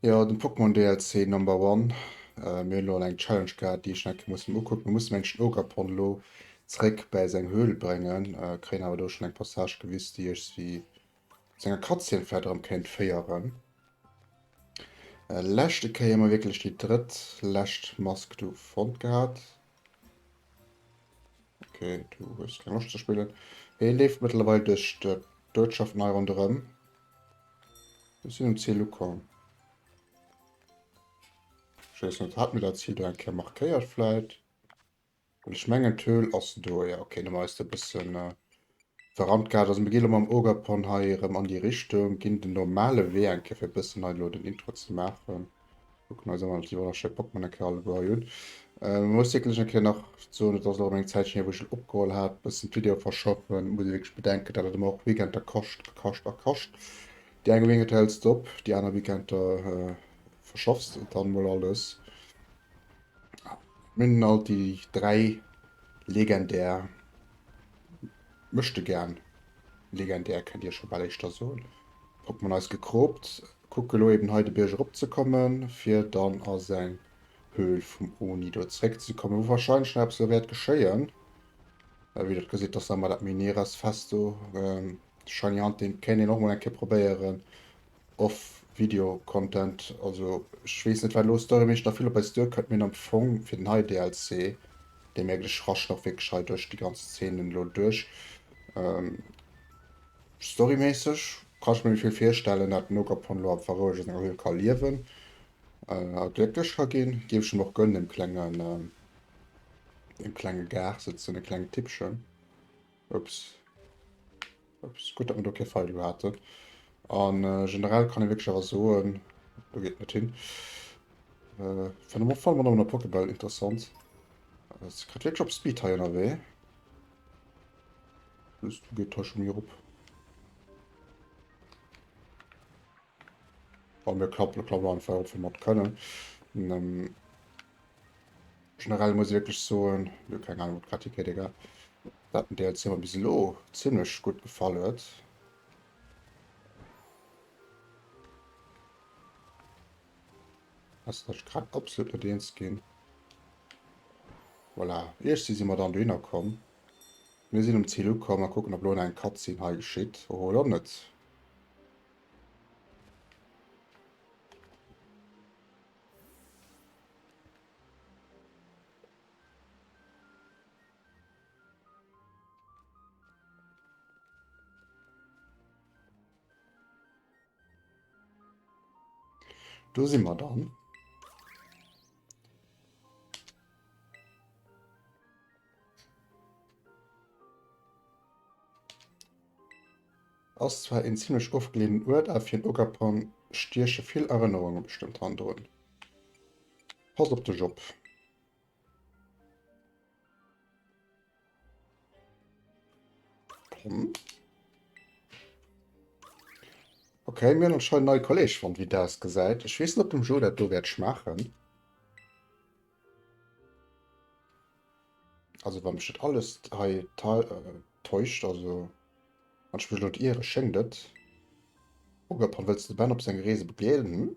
Jo den Pokémon DLC number one. Mir hunn elo eng Challenge gehat déi ech enke muss mer ukucken. Mir mussen mengen den Ogerpon elo zeréck bäi seng Höhle bréngen, kréien awer do schon eng Passage gewis déi ech si zu enger Cutscene vläit erëm kéint féieren. Leschte Kéier hu mer wierklech déi drëtt lescht Mask do fonnt gehat. Okay du hues keng Loscht ze spillen. Hie leeft mëttlerweil duerch d'Uertschaften hei ronderëm. Ech sinn um Ziel ukomm. Ech weess net, hat mir dat Ziel do eng Kéier markéiert vläit? Well ech mengen d'Höhl ass do, jo okay. Dann hu mer eis do e bëssen verrannt gehat. Also mir gi elo mam Ogapon hei erëm an déi Richtung, ginn den normale Wee eng Kéier fir e bëssen hei elo den Intro ze maachen. Kucken eis awer Tiroler Schëpp op man Kal Goyun. Äh, muss wirklich en Kéier nach so net ass eng Zäit hier wuch opgeholl hat bëssen d'Video verschaffen muss wirklich bedenken dat et och Weekend der kascht a kascht a kascht déi eng Weekend hälls du op déi aner Weekend der äh, verschaffs du dann mol alles min alt déi dräi legendär mëchte gern legendär kennt dir scho bal éischter soen Pokémon eis gekroopt Kucke lo eben hei de Bierg erop ze kommen, fir dann a seng Höhl vum Oni do zréck ze kommen, wou wahrscheinlech nach eppes elo wäert geschéien. Well wéi Der et gesitt, ass awer dat Mineras fest do. Shiny Hunting kéint een och mol eng Kéier probéieren, off Video Content. Also ech weess net, wat elo storyméisseg nach vill op eis duerkënnt, mee am Fong fir den hei DLC, dee mierkt ech, raschen och wierklech hei duerch déi ganz Szenen elo duerch. Storyméisseg kann ech mir méi vill virstellen, dat den Ogerpon elo am Faroueg a senger Höhl ka liewen a glécklech ka ginn. Géif ech em och gönnen, dem klengen, dem klenge Gar sëtzen, e klengen Tippchen. Ups. Ups, gutt, datt mir do kee Feind u haten. A generell kann ee wierklech awer soen, do geet net hin. Fänt em och voll mat op an der Pokéball interessant. Se kritt wierklech op Speed hei ënnerwee. Plus du geht Tasche mir op. Bei mir klappt es klar einfach ob wir mat können. Und, ähm, generell muss ich wirklich sagen, ja, keine Ahnung, was Kritik geht, egal. Dat den DLC mir bis lo ziemlich gut gefallen huet. Ass net grad absolut net eens ginn. Voilà, iergsi si mer dann dohinner komm. Mir sinn um Zil ukomm a kucken, ob elo nach eng Cutscene hei geschitt. Oh, elo net. Do si mer dann. Ass zwar en ziemlech ofgeleenen Uert, a fir en Ogerpon stieche vill Erënnerunge bestëmmt han drun. Pass op dech op. Hm. Okay, mir noch schon neue Kollege von wie das gesagt. Ich weiß nicht, ob dem Joe das du wird schmachen. Also beim steht alles äh, täuscht, also man spielt ihre schenkt. Oder willst du Ben auf seine Reise begleiten?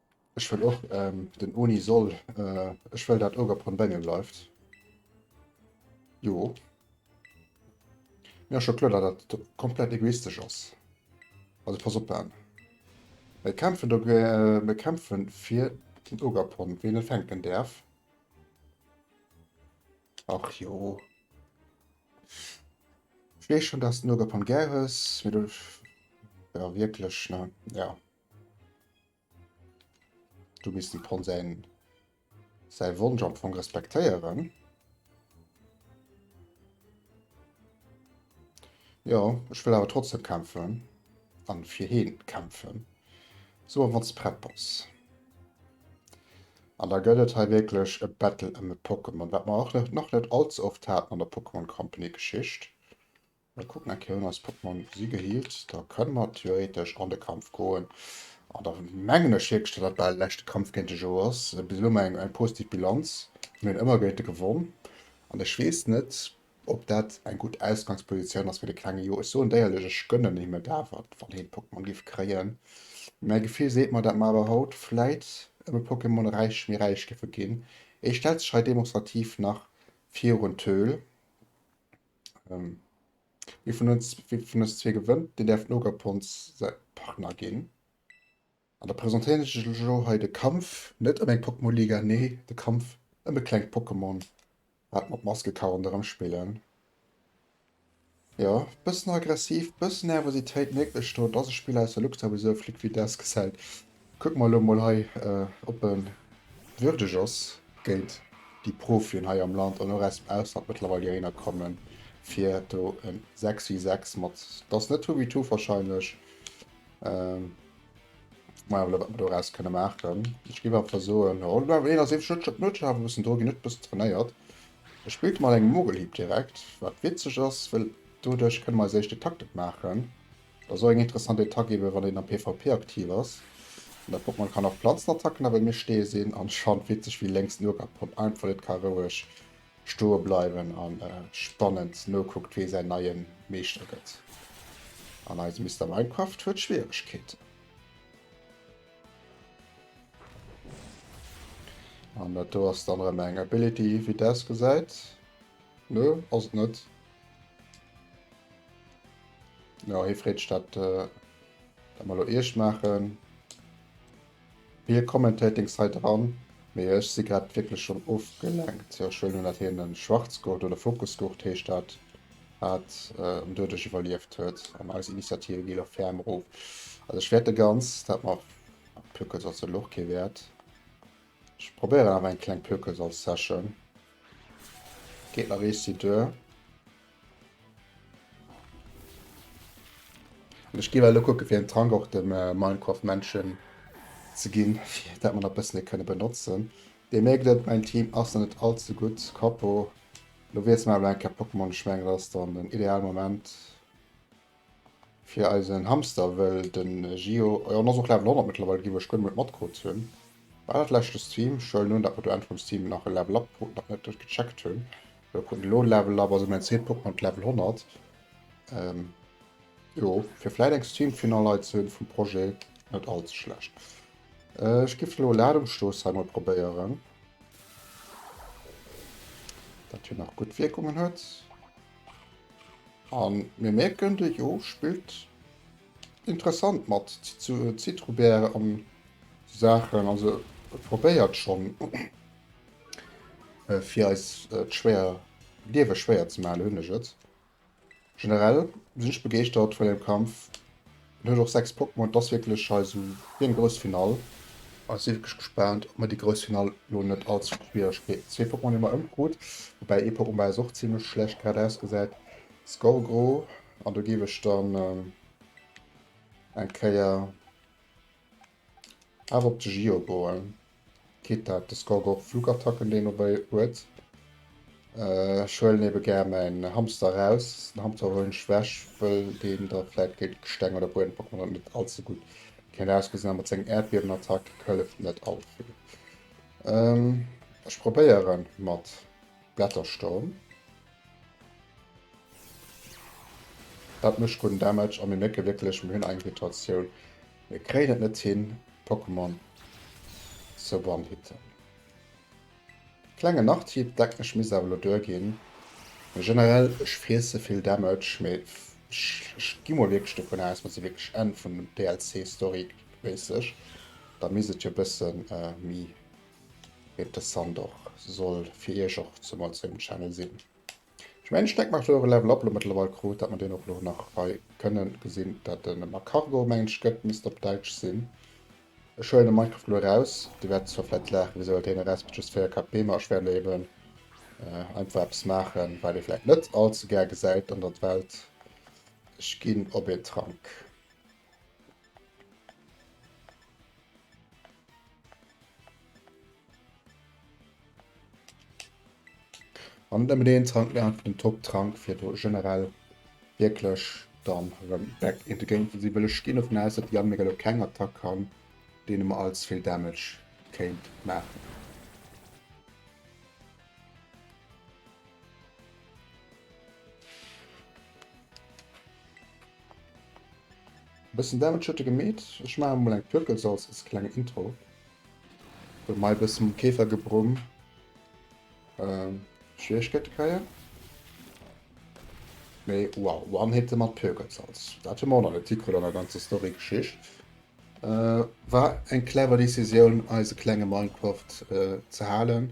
Ech wëll och ähm, den Oni soll. Äh, ech wëll dat Ogre pon Bengen bleift. Jo. Mir scho kloer, dat dat komplett egoistesch ass. Also pass op an. Mir kämpfen do, äh, mir kämpfen fir den Ogre pon, wien e fänken däerf. Ach jo. Ich weiß schon, dass du Nogapon gäres, wie du... Ja, wirklich, ne? Ja. Do misst de Pon säin säi Wonsch am Fong respektéieren. Ja, ech wëll awer trotzdem kämpfen an fir heen kämpfen. So wann ze prett bass. An da gëtt et hei wierklech e Battle ëm e Pokémon, wat mer och nach net allze oft haten an der Pokémon Company Geschicht. Mir kucken eng Kéier un eis Portemonnaie si geheelt, da kënne mer theoretesch an de Kampf goen an da mengen ech hiergestallt, datt bal de leschte Kampf géint de Joe ass. Bis elo hu mer eng positiv Bilanz, mir hunn ëmmer géint e gewonn an ech weess net, ob dat eng gutt Ausgangspositioun ass fir de klenge Joe. Ech soen déierlech, ech gënnen him et awer, wann hien d'Pokémon géif kréien. Mäi Gefill seet mer, datt mer awer haut vläit ëm e Pokémon räich, méi räich géife ginn. Ee stellt sech hei demonstrativ nach virun d'Höhl. Ähm, wie vun uns, wie vun uns zwee gewënnt, deen däerf Nogapons säi Partner ginn. An da presentéieren ech lech elo hei de Kampf, net ëm eng Pokémon-Liga, nee, de Kampf ëm e klengt Pokémon, wat mat Maskekaronn erëm spillen. Jo, bëssen aggressiv, bëssen Nervositéit mierkt ech do, et ass e Spill aus der Luxavisur, Flick Vidas gesäit Kucken mer elo mol hei ob e würdeg ass géint déi Profien hei am Land an och aus dem Ausland mëttlerweil hierinner kommen fir do e 6 vs 6 mat, et ass net Hubi Tuf wahrscheinlech, maja well wat mer do eraus kënne maachen. Ech géif einfach soen, oh lo hien ass eefeg net, huet awer e bëssen Drock, hien huet e bëssen trainéiert, e spillt mat engem Mogelhieb direkt, wat witzeg ass well doduerch kënne mer eis éischt den Taktek maachen. Et ass och eng interessant Attack eben wann een am PvP aktiv ass. An dat Pokémon kann och Planzenattacken a bei mir stehe se an Schand witzeg wéi lenks no gehackt konnt einfach net ka roueg stoe bleiwen an spannend nokuckt wee säin neien Meeschter gëtt. An eise Mister Minecraft huet Schwieregkeeten. An dat do ass dann erëm eng Ability wéi des gesäit. Nö ass et net. No hie freet dat äh, dat mal lo Iech maachen. Hie kommentéiert deng Sait eran, mee ech si grad wierklech schon ofgelenkt. Jo, ech huelen un dat hien en Schwarzgurt oder Focusgurt heescht dat hat äh, en Duerdesch iwwerlieft huet an eis Initiative gi lo ferm rof. Also ech wäert de ganz dat mer Plöckels ass elo och kee Wäert. Ech probéieren awer eng kleng Plöckels als Session. Geet nach ee Site duer. An ech gi well elo kucke fir en Tank och dem äh, Minecraft Menschen ze ginn, fir dat mer nach bëssen e kënne benotzen. Dir mierkt et, mäin Team ass nach net all ze gutt. Kapo. Elo wiessele mer awer eng Kéier Pokémon, ech mengen dat ass dann den ideale Moment. Fir eisen Hamster, well den Gio, jo en ass och Level 100 mëttlerweil ginn, wou ech guer nemol matgehots hunn. War dat leschte Stream? Ech huelen un dat mer do Enn vum Stream nach e Level Up kruten, nach net net gecheckt hunn. Elo kruten elo e Level Up, also mäin zweet Pokémon huet Level 100. Ähm, jo, fir vläit eng Stream fir nei Leit ze hunn vum Projet, net all ze schlecht. Äh, ech giff elo Ladungsstoss hei mol probéieren, dat hien nach gutt Wierkungen huet. An mir merken de Jo spillt interessant mat Zitrubär an Saachen, also e probéiert schonn fir eis d'schwéier d'Liewe schwéier ze maachen, hunn ech et. Generell sinn ech begeeschtert vun dem Kampf. En huet och 6 Pokémon, et ass wierklech hei sou wéi eng grouss Finall. A si wierklech gespaant, ob mer déi grouss Finall lo net all zu Schwieregkeet. Zwee Pokémon hu mer ëmkrut, woubäi ee Pokémon bei eis och zimmlech schlecht geradeaus gesäit, Skorgro, an do géif ech dann eng Kéier. Awer op de Gio goen, kritt dat de Score gof. Flugattacken deen dobei huet. Ech huelen eben gär mäin Hamster raus. Den Hamster huelen ech weg wëll deen da vläit géint Gesteng oder Bueden pochen an net all ze gutt kennt ausgesinn. Awer seng Erdbiebenattack hëlleft net all vill. Ech probéieren mat Blättersturm. Dat mecht gudden Damage a mir mierken wierklech mir hunn Eingrittratioun. Mir kréien et net hin Pokémon ze one-hitten. Klengen Nachtipp, deck mech misst awer lo duer ginn, mee generell ech friesse vill Damage, mee ech gi mol wierklech dovun aus, mer si wierklech Enn vun dem DLC Story méisseg, da misst et jo bëssen méi interessant och soll fir iech och zemol zu engem Channel sinn. Ech mengen Steck macht euren Level up lo mëttlerweil krut, dat mer deen och lo nach hei kënnen gesinn, dat en ëmmer Cargo mengen ech gëtt, misst op Däitsch sinn. Ech huelen e Minecraft lo eraus, dir wäert zwar vläit laachen, wisou huelt heen eraus mat just 4 KP, ma ech wäert eben einfach eppes maachen wat ee vläit net all ze gär gesäit an der Welt, ech ginn op een Trank. An nëmmen een Trank nach den Top-Trank fir do generell wierklech dann rëm back in the game ze sinn, well ech ginn dovun aus, datt Yann mir elo keng Attack kann, deene mer allze vill Damage kéint maachen. E bëssen Damage huet e gemeet. Ech maache mol eng Pirkel soss als kleng Intro. Huet mei bëssen um Käfer gebrumm. Ähm, Schwierigkeiten kreien. Mee wow, One-Hitte mat Pirkelsalz. Dat hu mer och nach net hikritt an der ganzer Story-Geschicht. Äh, war eng clever Decisioun, eise klenge Minecraft äh, ze halen.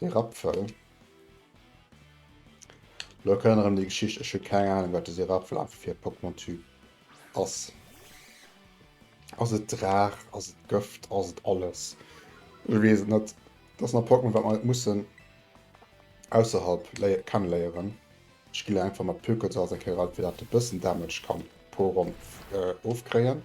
Seng Rapfel. Lo kënnen erëm déi Geschicht. Ech hu keng Ahnung wat dëse Rapfel einfach fir e Pokémon-Typ ass. Ass et Draach? Ass et Gëft? Ass et alles? Ech weess et net. Dass nach Pokémon wat mer net mussen ausserhalb léie kenneléieren. Ech ginn einfach mat Pökelzauers eng Kéier alt fir dat e bëssen Damage kann pro Ronn ofkréien.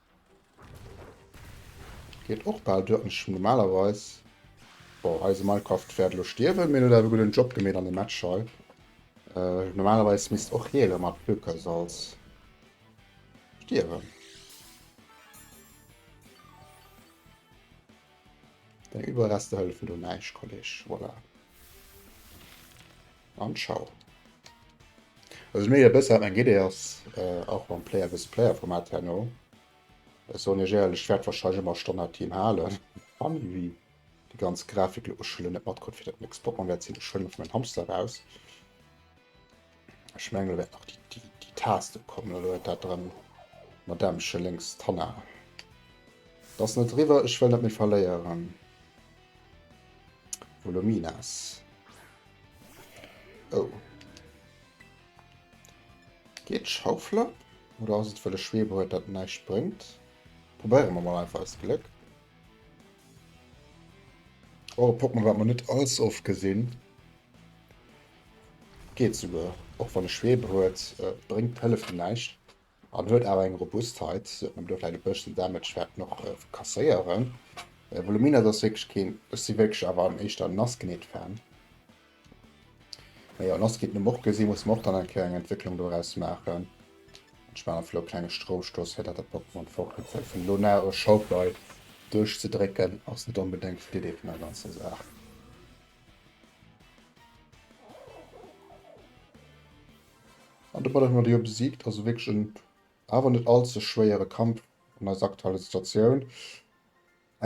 Geet och bal duer an ech hun normalerweis Bon eise Minecraft wärt elo stierwen, mee en huet awer e gudden Job gemeet an dem Match hei. Normalerweis misst och hie elo mat Plökersalz stierwen. Deng Überreste hëllefen do näischt Kolleg, voilà. An ciao. Also ech mierken e bësse wat meng Idee ass, och mam Player vs Player Format herno. Ech soen iech éierlech, ech wäert wahrscheinlech ëmmer Stonn dat Team halen. Funny wéi déi ganz Grafik lo, ech hu lo net matkrut wéi dat Mixed Pokémon wäert sinn, ech huelen emol mäin Hamster raus. Ech mengen elo wäert nach déi Taste kommen, elo huet dat drëm d'Madamche lénks d'Hanna. Et ass net eriwwer, ech wëll net méi verléieren. Volumina S. Oh. Geet Schaufler? Oder ass et wëll e Schweber huet dat näischt bréngt? Probéiere mer mal einfach eist Gléck. Oh, e Pokémon wat mer net als oft gesinn. Geet souguer. Och wann e Schweber huet, äh, bréngt hëlleft en näischt. An huet awer eng Robustheit, och wann do vläit e bësschen Damage wäert en och kasséieren. Voluminous ass wierklech keen, ech si wierklech awer an éischter Nassknitt Fan. Mee jo, Nassknitt hu mer och gesi musse mer och dann eng Kéier eng Entwécklung doraus maachen. Ech maachen einfach lo e klenge Stroustooss fir dat dat Pokémon fortgeet, well vun elo no e Shockwave duerchzedrécken ass net onbedéngt d'Idee vun der ganzer Saach. An de Ballon d'Or besiegt, also wierklech en awer net all ze schwéiere Kampf an eiser aktueller Situatioun.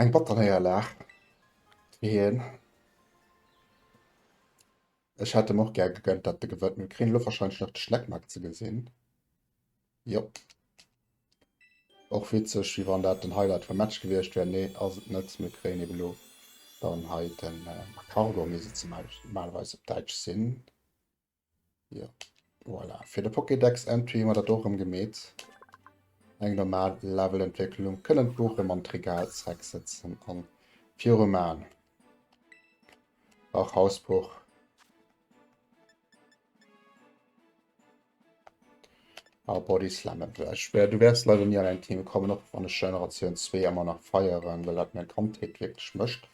Eng batter Néierlag fir hien. Ech hätt em och gär gegönnt, dat de gewënnt. Mir kréien elo wahrscheinlech nach de Schleckmack ze gesinn. Jo. Och witzeg, wéi wann dat den Highlight vum Match gewiescht wär. Nee, ass et net. Mir kréien eben elo dann hei den Cargo, wéi se normalerweis op Däitsch sinn. Jo, voilà. Fir de Pokédex-Entry hu mer dat och erëm gemeet. Eng normal Levelentwécklung. Kënnen d'Buch erëm an d'Regal zrecksetzen an viru man. Ach, Hausbuch. Ah, Body Slam et weg. Schwer, du wärst leider nie an ein Team kommen, och wann ich Generation 2 immer nach feieren, weil dat mein Kandheet wirklich mischt.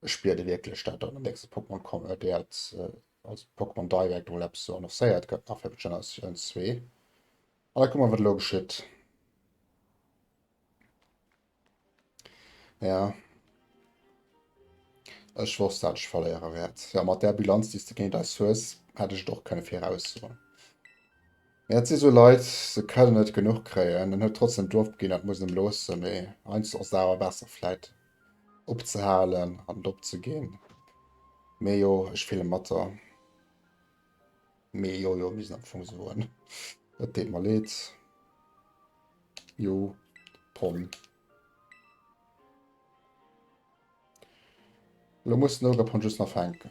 Ech spier de wierklech dat an den nächste Pokémon komme wäert, also de Pokémon Direct emol eppes sou annoncéiert gëtt nach fir Generatioun 2. An da kucke mer wat elo geschitt. Ja. Ech wosst dat ech verléiere wäert. Ja mat der Bilanz déi du géint eis hues, hätt ech et och kënne viraussoen. Ja, dat si sou Leit, se kënnen net genuch kréien. En huet trotzdem Duerf beginn, dat muss en em loossen, mee heiansdo ass et awer besser vläit opzehalen an et opzeginn. Mee jo, ech fille mat der. Mee jo, jo, mir sinn am Fong soen. Et deet mer leed. Jo, Pom. Lo muss den Ogre Pon just nach fänken.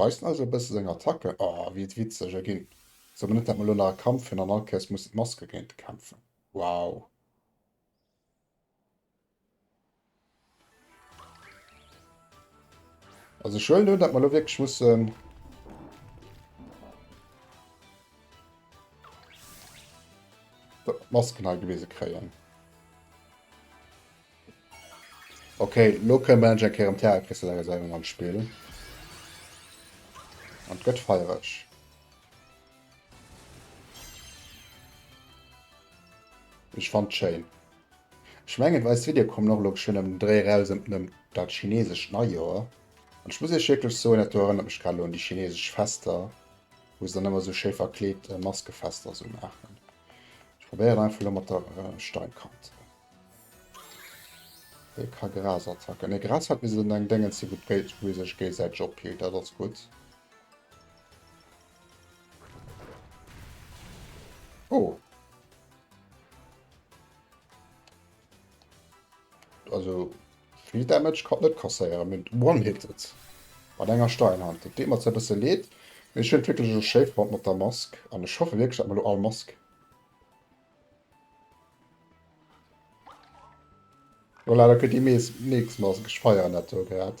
Weist eis e bësse seng Attacke. Oh, wier et witzeg erginn. Sou mir net dat mer elo nach e Kampf hunn an all Kéiers mussen d'Maske géint e kämpfen. Wow. Also schön, ne? dass wir lo wirklich müssen Masken halt gewesen kreieren. Okay, lo können wir endlich am Terra Crystallisierung am Spiel. Und gött feierig. Ich fand schön. Ech mengen et weist Video kommen och elo geschwënn ëm den Dréi eraus ëm ëm dat chinesescht Neijoer an ech muss iech wierklech soen dat do erënnert mech grad elo un déi chinesesch Fester wou se dann ëmmer esou schéi verkleet Maskefester esou maachen. Ech probéieren einfach elo mat der Steinkante dee ka Gras attacken ne Gras hat bis un eng Déngens hie gutt Geld wou sech géisäiteg ophielt dat ass gutt. Oh. Also viel Damage kann net kasséieren, mit one hit et mat enger Steinhand. Et deet mer zwar bësse leed, mee ech hunn et wierklech elo schéi fonnt mat der Mask an ech hoffe wierklech dat mer elo all Mask. Voilà, da kënnt déi nächst Mass. Ech feieren dat do grad,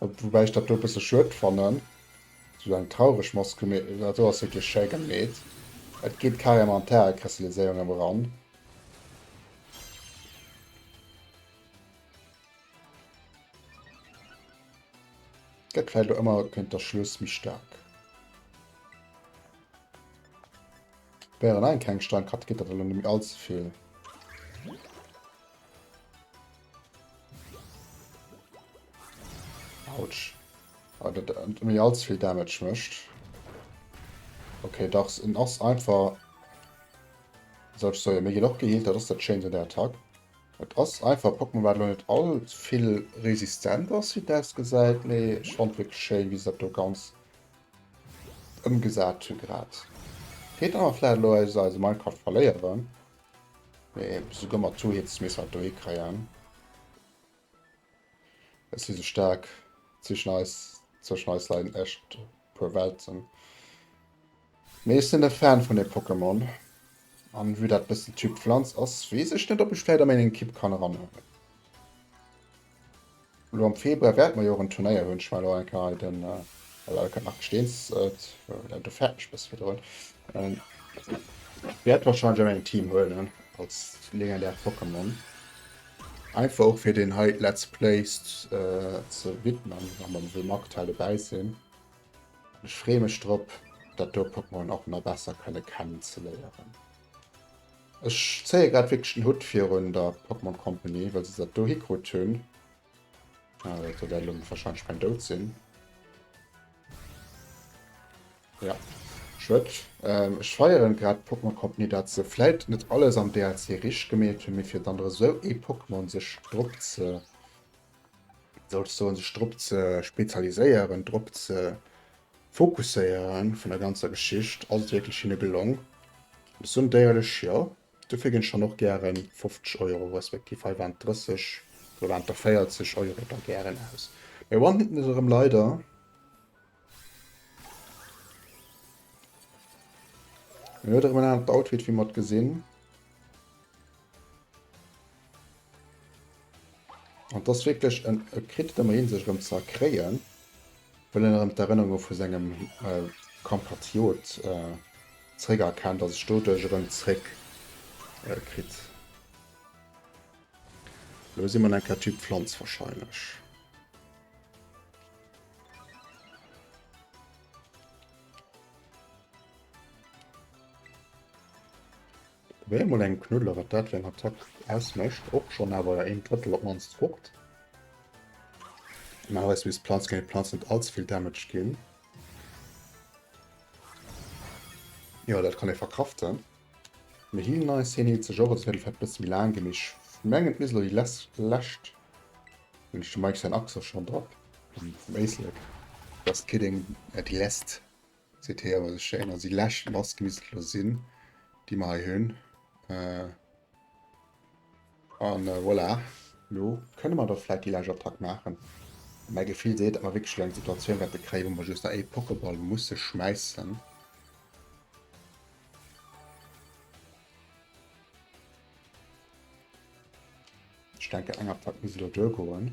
woubäi ech dat do e bësse schued fannen, esou eng traureg Mass gemeet. Dat do ass wierklech schéi gemeet, et geet carrément an d'Härekristalliséierung ëm eran. Gëtt vläicht och ëmmer géint der Schluss méi staark. Wär allein keng stark hat geet dat elo nemmi all ze vill. Autsch. Ah, dat äh, méi all ze vill Damage mëscht. Okay, dachs en ass einfach Soch soll mé gin och geheelt, dat ass dat Schéint un der Attack. Et ass einfach e Pokémon wat elo net all ze vill resistent ass wéi et ausgesäit, mee ech fand wierklech schéin wéi se dat do ganz Ëmgesat hu grad. Feet awer vläit elo eis eise Minecraft verléieren. Mee souguer mat zwou Hits misst mer et do hikréien. Ech si sou staark. Zwischen eis, zwischen eis leien echt puer Welten. Mee ech sinn e Fan vun dem Pokémon. An vue dat bëssen Typ Pflanz ass, weess ech net ob ech vläit a méng Ekipp kann eranhuelen. Lo am Februar wärt mer jo och en Turnéier hun, ech war lo enker hei den Welcome Marc Steens, well du fäert mech bësse virdrun, wärt wahrscheinlech och eng Team huelen als legendär Pokémon, einfach och fir den hei Let's Play ze widmen, wa mer wéi Magtal dobäi sin. Ech free mech drop dat do Pokémon och na besser kënne kennen ze léieren. Ech zéie grad wierklech den Hutt virun der Pokémon Company, well se dat do hikrutt hunn. Ah, dat wäert elo warscheinlech mäin Doud sinn. Ja, Schued. Ähm, ech feieren grad d'Pokémon Company, dat se vläit net alles am DLC richteg gemeet hunn, mee fir dann erëm esou ee Pokémon sech drop ze, soll ech soen, sech drop ze spezialiséieren, drop ze Fokusséiere vun der ganzer Geschicht, ass et wierklech hinne gelong? Ech soen et éierlech, jo. Dofir ginn ech dann och gären 50 Euro, respektiv heiwand 30, heiwanter 40 Euro da gären aus. Mir one-hitten et erëm leider. Hien huet erëm en anert Outfit, wéi mer et gesinn. An dass wierklech en e kritt ëmmer hin sech erëm ze erkréien, well en erëm d'Erënnerunge vu sengem Kampatriot zeréck erkennt a sech doduerch erëm zeréck kritt. Elo si mer an enker Typ Pflanz wahrscheinlech. Probéier mol engem Knuddler wat dat fir eng Attack ausmécht. Och schonn awer jo een Drëttel op mannst fort. Normalerweis misst Planz géint Planz net allze vill Damage ginn. Jo, dat kann ee verkraften. Mir healen eis, hien healt sech och, also wäert et vläicht e bësse méi laang ginn. Mee ech mengen et misst elo déi les lescht. Hunn ech dem Mike säin Axe schonn drop? Vum Éislek. Dass d'Kidding déi lässt. Seet hei awer esou schéin. Also déi lescht Mask misst et elo sinn, déi mer hei hunn. A voilà, elo kënne mer da vläit déi lescht Attack maachen. Mäi Gefill seet, datt mer wierklech elo eng Situatioun wäerte kréien, wou mer just nach ee Pokéball musse schmäissen. Ech denken, eng Attack misst elo duergoen.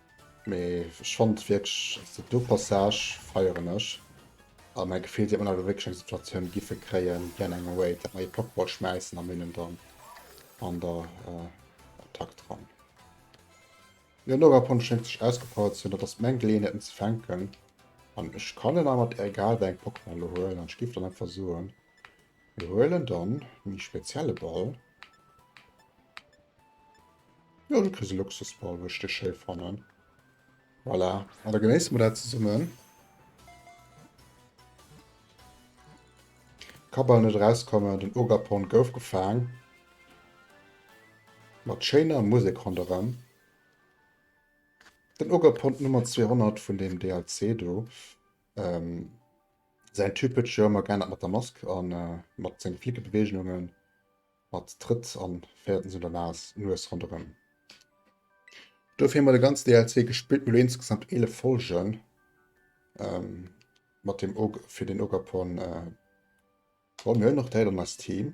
Mee ech fand wierklech also do Passage feieren ech a mäi Gefill déi mer awer wierklech eng Situatioun giffe kréien wéi an engem Raid dat mer ee Pokeball schmäissen an hinnen dann an der Attack dran. Jo no Rapon schéngt sech ausgepowert ze hunn, dat ass meng Geleeënheet en ze fänken an ech kann en awer mat egal wéi engem Pokémon elo huelen an ech giff dann einfach soen Mir huelen dann de méi spezielle Ball. Jo, du kriss e Luxusball, wou ech dech schéi fannen. Voilà, an da genéisse mer dat zesummen. Ka bal net erauskommen, den Ogapon gouf gefaang. Mat schéiner Musek ronderëm. Den Ogapon Nummer 200 vun deem DLC do. Ähm, säin Typ huet sech jo ëmmer geännert mat der Mask an äh, mat senge flicke Beweegnungen, mat Trëtt an féierten sou der Nas, Nues ronderëm. Do fir mol de ganz DLC gespillt, mol insgesamt 11 Folgen ähm, mat dem Og fir den Ogapon äh, Bon, mir hunn och Däiler an eist Team.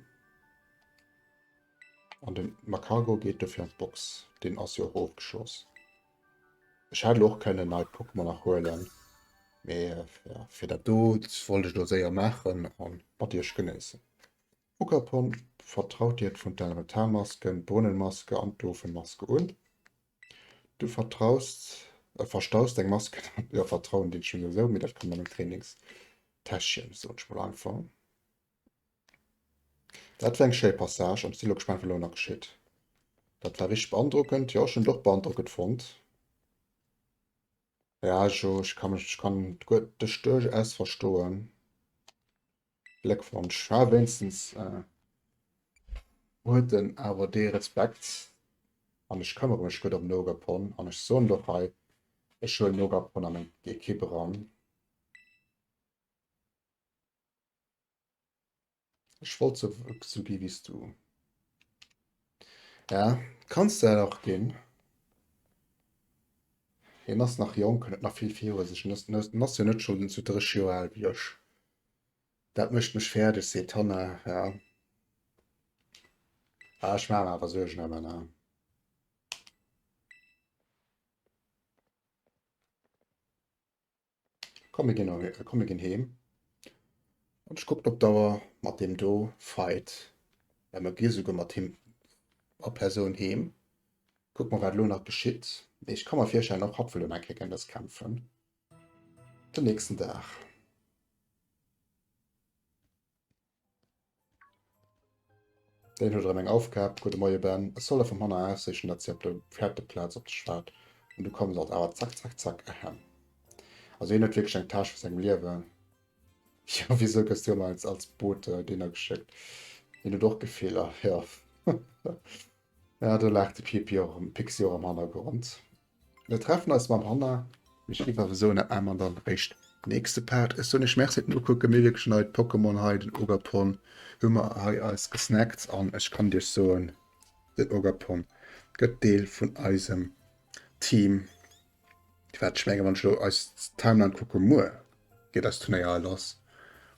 An de Magcargo geet dofir an d'Box. Deen ass jo och ofgeschloss. Ech hätt elo och kënnen nei Pokémon nach huelen, mee jo, fir dat do wollt ech elo séier maachen a mat iech genéissen. Ogerpon, vertraut dir d'Fontaine-Retard-Maske, d'Brunnenmaske an d'Ofenmaske un? Du vertraust, äh, verstaust eng Mask an engem, jo, vertrauen deet ech souwisou, mee dat kann an engem Trainingstäschchen, soen ech mol einfach. Dat war eng schéi Passage am Silo gespannt, wat elo nach geschitt. Dat war richtig beandrockend. Jo, ech hunn et och beandrockend fonnt. Ja, jo, ech kann mech, ech kann d'Störung S verstoen. Gléckwonsch, ha wéinstens huet en awer dee Respekt. An ech këmmere mech gutt ëm Nogapon an ech soen och hei, ech huelen Nogapon a meng Ekipp eran. Ech wollt sou gi wéi s du. Ja, kanns de dat och ginn. Hien ass nach jonk, hien huet nach vill virun sech. En ass, en ass jo net schonn zu 30 Joer al wéi ech. Dat mécht mech fäerdeg, seet d'Hanna. Ja, ah, ech maache mer awer Suergen ëm en. Komm mir gin erwee, komm mir gin heem. An ech kucken op d'Auer, mat deem do Fight, well mer gier souguer mat him a Persoun heem. Kucken mer wat elo nach geschitt. Mee ech ka mer virstellen, och hatt wëll elo eng Kéier géint eis kämpfen den nächsten Dag. Deen huet erem eng aufgehab. Gudde Moie Ben, ech soll der vum hanner ausriichten dat si op der Fäerteplaz op dech waart an du kommes als awer zack zack zack ehem. Also hien huet wierklech eng Tâche vu sengem Liewen. Jo wisou gëss du ëmmer als als Bote deener geschéckt? Hien huet och Gefiller jo. Ja do laacht de Piepi och erem Pixi och am Hannergrond. Mir treffen eis mam Hanna. Ech giff awer soen dat maache mer dann réischt nächste Part. Ech soen iech Merci fir den Ukucken. Mir wierklech nei d'Pokémon hei, den Ogapon hu mer hei eis gesnackt an ech kann iech soen den Ogapon gëtt Deel vun eisem Team. Wat ech mengen wann ech elo eis Timeline kucke muer geet eist Turnéier hei lass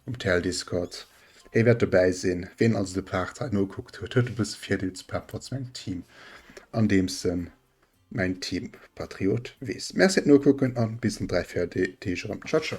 um TL Discord. Hie wäert dobäi sinn. Ween also de Part hei nokuckt huet, huet e bësse Virdeel zu Pepper zu mengem Team an deem Sënn. Mäin Team Patriot wees. Merci et nokucken an bis an 3, 4 Deeg erem. Ciao ciao.